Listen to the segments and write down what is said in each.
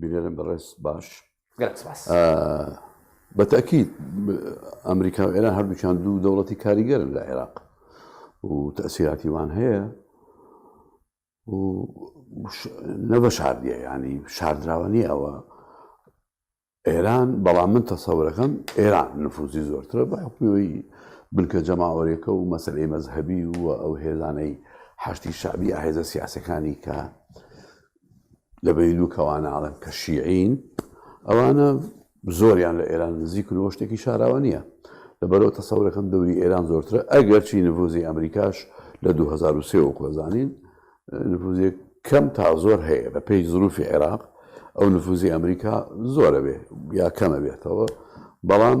بینەرم بەڕێز باش بەتەکی ئەمریکا و ئێران هەردووچان دوو دەوڵەتی کاریگەرن لە عێراق و تەسیراتیوان هەیە نەبە شاردیە ینی شاردراوە نیە ئەوە ئێران بەڵام من تەسەورەکەم ئێران نفوزی زۆرترە بە حکوەوەی بنکە جەماوەرێکە و مەسلەی مەذهبی و ئەو هێزانەی حشتی شعبی هێزە سیاسەکانی کە لە بەینو کەوانە ئاڵم کە شیعین ئەوانە زۆریان لە ئێران نزیک و شتێکی شاراوە نییە لە بەرەوە تەسەورەکەم دەوری ئێران زۆرترە ئەگەر چی نڤوزی ئەمریکاش لە 2023 و کۆزانین نفوزێک کەم تا زۆر هەیە بە پێی زروفی عێراق ئەو نفوزی ئەمریکا زۆرە بێ یا کەمە بێتەوە بەڵام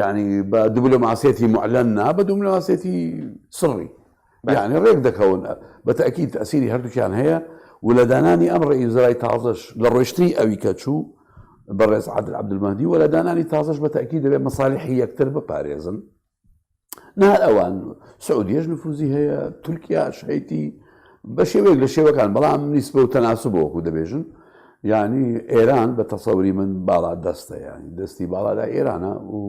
یعنی بە دبلۆماسیەتی معلەن نا بە دوملاسێتی سڕی یعنی ڕێک دەکەون بە تاکی تاسیری هەردووکیان هەیە و لە دانانی ئەم ڕئیزرای تازش لە ڕۆشتنی ئەوی کە چوو بەڕێز عادل عبدمەدی و لە دانانی تازش بە تاکی دەبێت مەساالحی یەکتر بپارێزن نار ئەوان سعودیش نفوزی هەیە تورکیا شەیتی بە شێوەیەک لە شێوەکان بەڵام نیسبە و تەناسب بۆکو دەبێژن ینی ئێران بە تەسەوری من باڵا دەستە ینی دەستی باڵادا ئێرانە و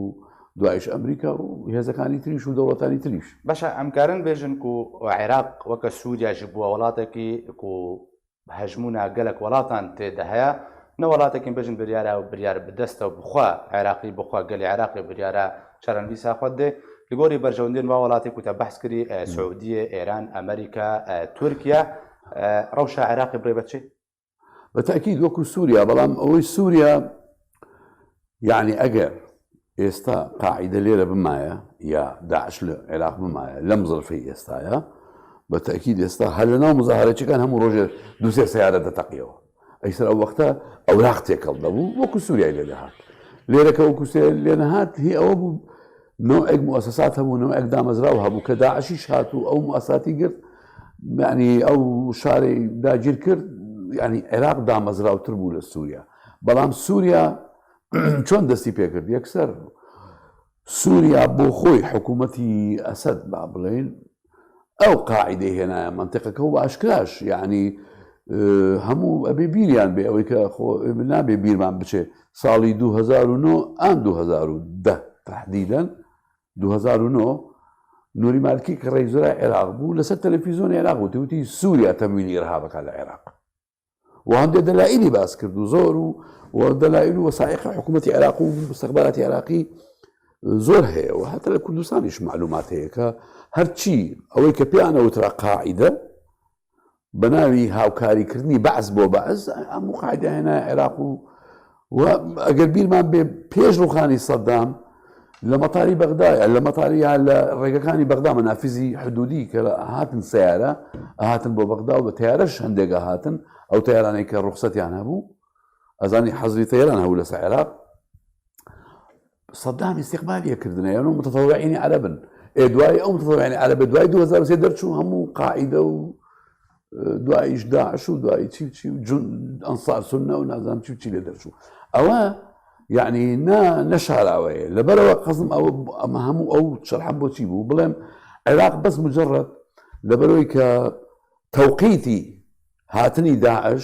دوایش ئەمریکا و هێزەکانی تریش و دەوڵەتانی تریش بەشە ئەمکارن بێژن و عێراق وەکە سووریاژی بووە وڵاتێکی و هەژمونا گەلەک وەلاتان تێدە هەیە نە وەلاتەکین بژن بریارا و بریار بدەستەو بخوا عێراقی بخوا گەلی عێراقی بریارا چارن دیسا خوەت دێ لگۆری بەرژەوندێن وا وەلاتێ کوتە بەحس کری سعودیە ئێران ئەمریکا تورکیا رەوشا عێراقی بڕێ بەچی؟ بە تەئکید وەکو سوریا بەڵام ئەوەی سوریا یەعنی ئەگەر ئێستا قاعیدە لێرە بمایە یا داعش لە عێراق بمایە لەم زرفەی ئێستاە بە تاکیید ئێستا هەر لە ناو مزاهرەچەکان هەموو ڕۆژێ دوسێ سیارە دەتەقیەوە ئەیسەر ئەو وەختە ئەو راق تێکەڵ دەبوو وەکو سووریای لێ دەهات لێرەکە وەکو سێ لێ نەهات هی ئەوە بوو نوعێک موسسات هەبوو نوعێک دامەزراو هەبوو کە داعشی شات و ئەو موساتی گرت معنی ئەو شارەی داگیر کرد ینی عێراق دامەزراوتر بوو لە سووریا بەڵام سوریا چۆن دەستی پێکرد یەکسەر سوریا بۆ خۆی حکوومەتی ئەسد با بڵێن ئەو قاعدەی هێنایە منتیقەکە و ئاشکراش یعنی هەموو ئەبێ بیریان بێ ئەوەی کە خۆ نابێ بیرمان بچێ ساڵی 2009 ئان 2010 تهدیدەن 2009 نوری مالکی کە ڕێزرا عێراق بوو لەسەر تەلەفیزۆن عێراق و توتی سووریا تەمویلی ڕهابەکە لە عێراق و هەندێک دەلائلی باس کرد و زۆر و و دەلایل و وەسایقی حکوومەتتی عێراق و مستەخباتی عێراقی زۆر هەیە و هەتە لە کوردستانیش معلومات هەیە کە هەرچی ئەوەی کە پێیانەوە ترا قاعدە بە ناوی هاوکاریکردنی بەعس بۆ بەعس ئەم قاعدە هێنا عێراق و و ئەگەر بیرمان بێ پێش ڕوخانی سەددام لە مەتاری بەغدایە لە مەتاریە لە ڕێگەکانی بەغدا مەنافزی حدودی کە هاتن سیارە هاتن بۆ بەغدا و بە تیارەش هەندێکە هاتن ئەو تیارانەی کە ڕوخسەتیان هەبوو ئەزانی حەزری تێران هەبوو لەسە عێراق سەدام استقبالی کردن یان و متەفەوعینی عەرەبن ئێ دوای ئەو متەفەوعینی عەرەبە دوای 2023 دەرچوو هەموو قاعدە و دوایش داعش و دوای چی چی جون ئەنسار سنە و نازام چی چی لێ دەرچوو ئەوە یعنی نا نەشاراوەیە لەبەرەوە قەزم ئەوە ئەمە هەموو ئەو شەرحە بۆچی بوو بڵێم عێراق بەس مجرڕەت لەبەرەوەی کە تەوقیتی هاتنی داعش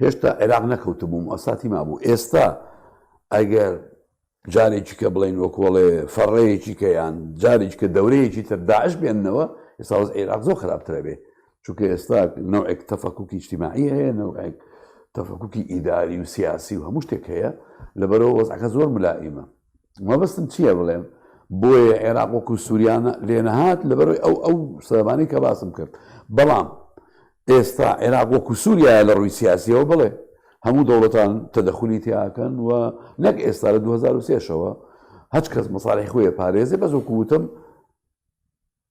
هێشتا عێراق نەکەوتبووم ئەساتی مابوو ئێستا ئەگەر جارێکی کە بڵین وەکۆڵێ فەڕەیەکی کە یان جارێک کە دەورەیەکی تر داعش بێننەوە ئێستا وەز عێراق زۆر خراپترە بێ چونکە ئێستا نەوەک تەفەکوکی اجتماعی هەیە نەوەک تەفەکوکی ئیداری و سیاسی و هەموو شتێک هەیە لەبەرەوە وەزعەکە زۆر ملائیمە مەبەستم چییە بڵێم بۆیە عێراق وەکو سووریانە لێنەهات لەبەرەوەی ئەو ئەو سەبانی کە باسم کرد بەڵام ئێستا عێراق وەکو سووریا لە ڕووی سیاسیەوە بڵێ هەموو دەوڵەتان تەدەخلی تیاکەن و نەک ئێستا لە 2023ەوە هەچ کەس مەساڵی خۆیە پارێزێ بەزۆکوتم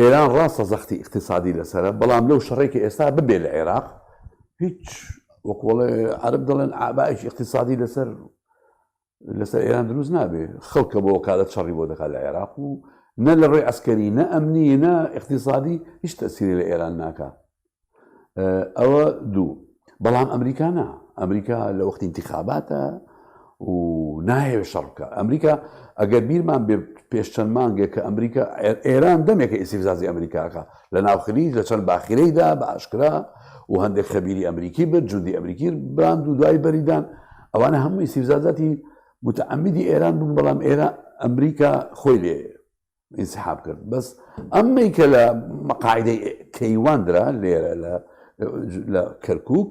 ئێران ڕاستە زەختی ئیقتیسادی لەسەرە بەڵام لەو شەڕەی کە ئێستا ببێ لە عێراق هیچ وەکوڵێ عرب دەڵێن ئابایش ئیقتیسادی لەسەر لەسەر ئێران دروست نابێ خەڵکە بۆ کارە چڕی بۆ دەکات لە عێراق و نە لە ڕێ ئەسکەری نە ئەمنی نە اقتصادی هیچ تەسیری لە ئێران ناکە ئەوە دوو بەڵام ئەمریکا نا ئەمریکا لە وەختی انتخاباتە و نایەوێت شەڕکە ئەمریکا ئەگەر بیرمان بێ پێش چەند مانگێک کە ئەمریکا ئێران دەمێکە ئیسیفزازی ئەمریکاکە لە ناوخلیج لە چەند باخیرەیدا بە ئاشکرا و هەندێک خەبیری ئەمریکی بن جودی ئەمریکی بان و دوای بەریدان ئەوانە هەمووی سیفزازاتی متعمدی ئێران بوون بەڵام ئێرە ئەمریکا خۆی لێ ئینسحاب کرد بەس ئەمەی کە لە مەقاعدەی کەیوان درا لێرە لە کەرکک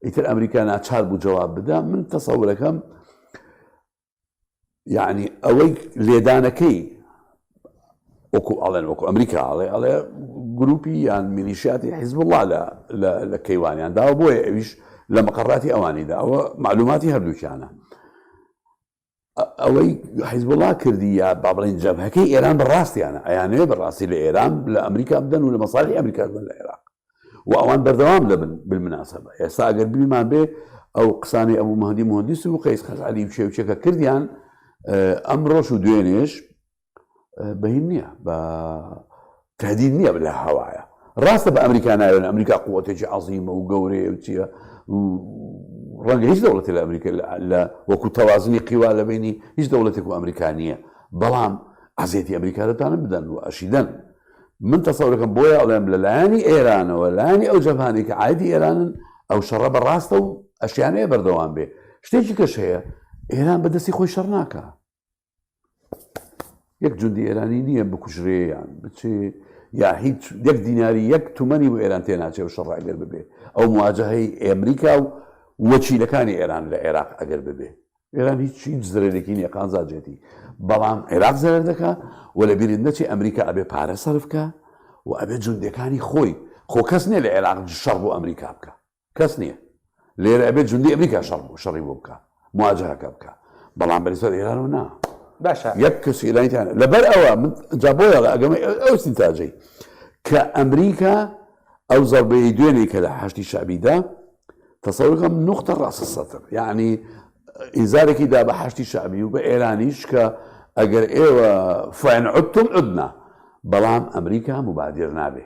ئیتر ئەمریکا ناچار بوو جواب بدا من تەسەورەکەم یعنی ئەوەی لێدانەکەی وەکو ئاڵێن وەکو ئەمریکا ئاڵێ ئەڵێ گروپی یان میلیشیاتی حیزب وڵا لە لە کەیوانیان داوە بۆیە ئەویش لە مەقڕاتی ئەوانیدا ئەوە معلوماتی هەردووکیانە ئەوەی حیزبوڵا کردی یا با بڵین جەبهەکەی ئێران بە ڕاستیانە ئەیانەیە بە ڕاستی لە ئێران لە ئەمریکا بدەن و لە مەسالی ئەمریکا بدەن لە عێراق و ئەوان بەردەوام دەبن بالمناسبە ئێستا ئەگەر بیمان بێ ئەو قسانی ئەبوو مهدی مهندیس و قەیس خەزعلی و شێوچەکە کردیان ئەمڕۆش و دوێنێش بەین نییە بە تهدید نییە بە لە هەوایە ڕاستە بە ئەمریکا ناوێن ئەمریکا قوتێکی عظیمە و گەورەیە و چیە ڕەنگە هیچ دەوڵەتی لە ئەمریکا لە وەکو تەوازنی قیوا لە بینی هیچ دەوڵەتێک و ئەمریکانیە بەڵام ئازێتی ئەمریکا دەتانە بدەن و ئەشیدەن من تەسەورەکەم بۆیە ئەڵێم لە لایەنی ئێرانەوە لایانی ئەو جەمانێک کە ئایدی ئێرانن ئەو شەڕە بە ڕاستە و ئەشیانەیە بەردەوام بێ شتێکی کەش هەیە ئێران بەدەستی خۆی شەڕ ناکە یەک جندی ئێرانی نییە بکوژرێ یان بچێ یا هیچ یەک دیناری یەک تومەنی بۆ ئێران تێ ناچێ و شەڕ ئەگەر ببێ ئەو مواجهەی ئەمریکا و وەچیلەکانی ئێران لە عێراق ئەگەر ببێ ئێران هیچ هیچ زرێکی نیە قازاجێتی بەڵام عێراق زەرەر دەکە و لە بیرت نەچی ئەمریکا ئەبێ پارە سەرفکە و ئەبێ جوندەکانی خۆی خۆ کەس نیە لە عێراق شەڕ بۆ ئەمریکا بکە کەس نیە لێرە ئەبێت جوندی ئەمریکا شەڕ بوو شەڕی بۆ بکە مواجهەکە بکە بەڵام بەری سەر ئێران و نا باشە یەک کەس ئێرانیان لەبەر ئەوە من جا بۆ یاڵە ئەگەمە ئەو سینتاجەی کە ئەمریکا ئەو زەڵبەیە دوێنێ کە لە حشتی شعبیدا تەسەورەکەم نقطە ڕاستە سەتر یعنی ئیزارێکی دا بە حشتی شعبی و بە ئێرانیش کە ئەگەر ئێوە فەن عوتم عدنا بەڵام ئەمریکا مبادر نابێ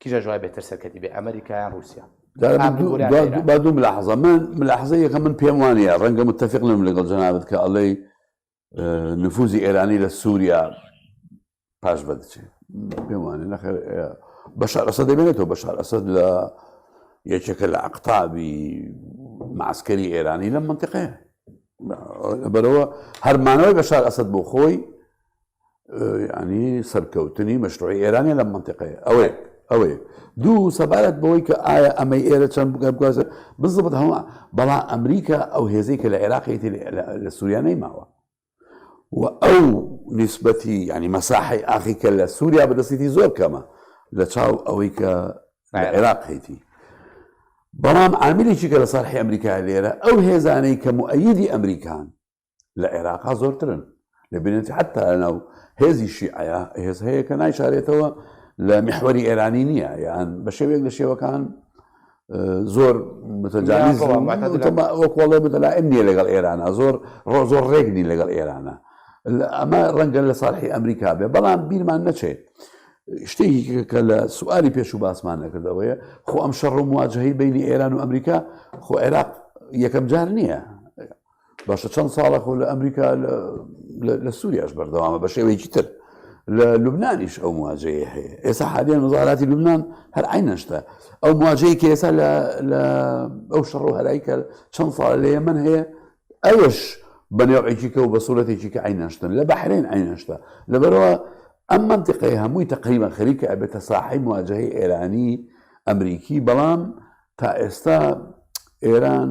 کیژە جوای بێتر سەرکەتی بێ ئەمریکایان رووسیا با دوو ملاحظە من ملاحظە یەکە من پێم وانە ڕەنگە متتەفق لەم لەگەڵ جەنابەت کە ئەڵەی نفوزی ئێرانی لە سووریا پاش بەدچێ پێم وانە نەخێر بەشار ئەسە دەبێنێتەوە بەشار ئەسد لە یەکێکە لە عقتابی معسکەری ئێرانی لەم منتقەیە بەرەوە هەرمانەوەی بەشار ئەسد بۆ خۆی ینی سەرکەوتنی مەشروعی ئێرانە لە منتیقەیە ئەوەیە ئەوەیە دوو سەبارەت بەوەی کە ئایا ئەمەی ئێرە چەند بگەبگوازە بزبت هەڵە بەڵا ئەمریکا ئەو هێزەی کە لە عێراقی لە سووریانەی ماوە و ئەو نسبەتی ینی مەساحی ئاخی کە لە سووریا بەدەستێتی زۆر کەمە لە چاو ئەوەی کە عێراق هەیتی بەڵام ئامریکی کە لە ساحی ئەمریکا لێرە ئەو هێزانەی کە موئەیدی ئەمریکان لە عێراقا زۆرترن لە بینێتی حتا لەناو هێزی شیعە هێز هەیە کە نایشارێتەوە لە محوەری ئێرانی نییە یان بە شێوێک لە شێوەکان زۆر وەکڵێ بەلا ئەمنیە لەگەڵ ئێرانە زۆر ڕۆ زۆر ڕێگنی لەگەڵ ئێرانە ئەمە ڕەنگە لە ساڵحی ئەمریکا بێ بەڵام بیرمان نەچێت شتێکی کە لە سواری پێش و باسمان نەکردەوەیە خۆ ئەم شەڕ و مواجههی بینی ئێران و ئەمریکا خۆ عێراق یەکەم جار نییە باشە چەند ساڵە خۆ لە ئەمریکا لە سووریاش بەردەوامە بە شێوەیەکی تر لە لوبنانیش ئەو مواجەیە هەیە ئێستا حالیان وەزاراتی لوبناان هەر عینەشتا ئەو مواجەیە کە ئێستا لە ئەو شەڕ و هەرای کە چەند ساڵ لە یەمن هەیە ئەوش بە نێوعێکی کە و بە سوورەتێکی کە عینەشتن لە بەحرێن عینەشتا لەبەرەوە ئەم منتیقەی هەمووی تقریبا خەریکە ئەبێتە ساحی مواجهی ئێرانی ئەمریکی بەڵام تا ئێستا ئێران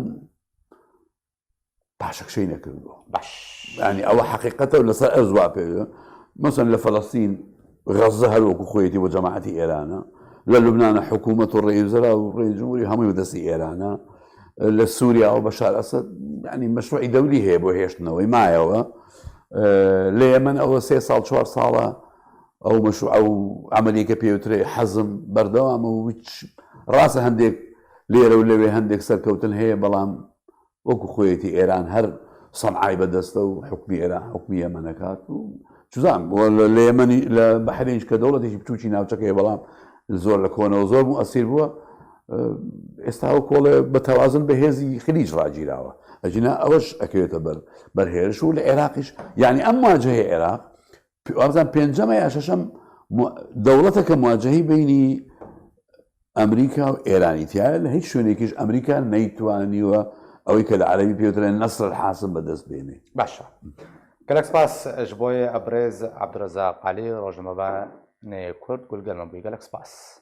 پاشەکشەی نەکردووە باش ینی ئەوە حقیقەتە و لەسەر ئەر زوا پێ مەسن لە فەلەستین غەزە هەروەکو خۆیەتی بۆ جەماعەتی ئێرانە لە لوبناە حکوومەت و ڕێزرا و ڕێجموری هەمووی بەدەستی ئێرانە لە سووریا و بەشار ئەسد ینی مەشروعی دەوری هەیە بۆ هێشتنەوەی مایەوە لە ئێمن ئەوە سێ ساڵ چوار ساڵە ئەو مەشروع ئەو ئەمریکە پێوترێ حەزم بەردەوامە و هیچ ڕاستە هەندێک لێرە و لەوێ هەندێک سەرکەوتن هەیە، بەڵام وەکو خۆیەتی ئێران هەر سەنعای بەدەستە و حکومی ئێران حکومی یەمەنەکات و چزان لە یەمەنی لە بەحرێنش کە دەوڵەتێکی بچوکی ناوچەکەی بەڵام زۆر لە کۆنەوە زۆر بوو ئەسیر بووە ئێستا و کۆڵێ بە تەوازن بە هێزی خلیج ڕاگیراوە ئەجینا ئەوەش ئەکەوێتە بەر بەرهێرش و لە عێراقیش یعنی ئەم واجهەیە عێراق وابزان پێنجەمە یا شەشەم دەوڵەتە کە مواجهی بینی ئەمریکا و ئێرانی تایە لە هیچ شوێنێکیش ئەمریکا نەیتوانیوە ئەوەی کە لە عەربی پێوترێن نەسر حاصل بەدەست بێنێ باشە گەلەک سپاس ئەش بۆیە ئەبرێز عبدرەزا قالی ڕۆژنمە بە نەیە کورد گولگەلم بووی گەلەک سپاس.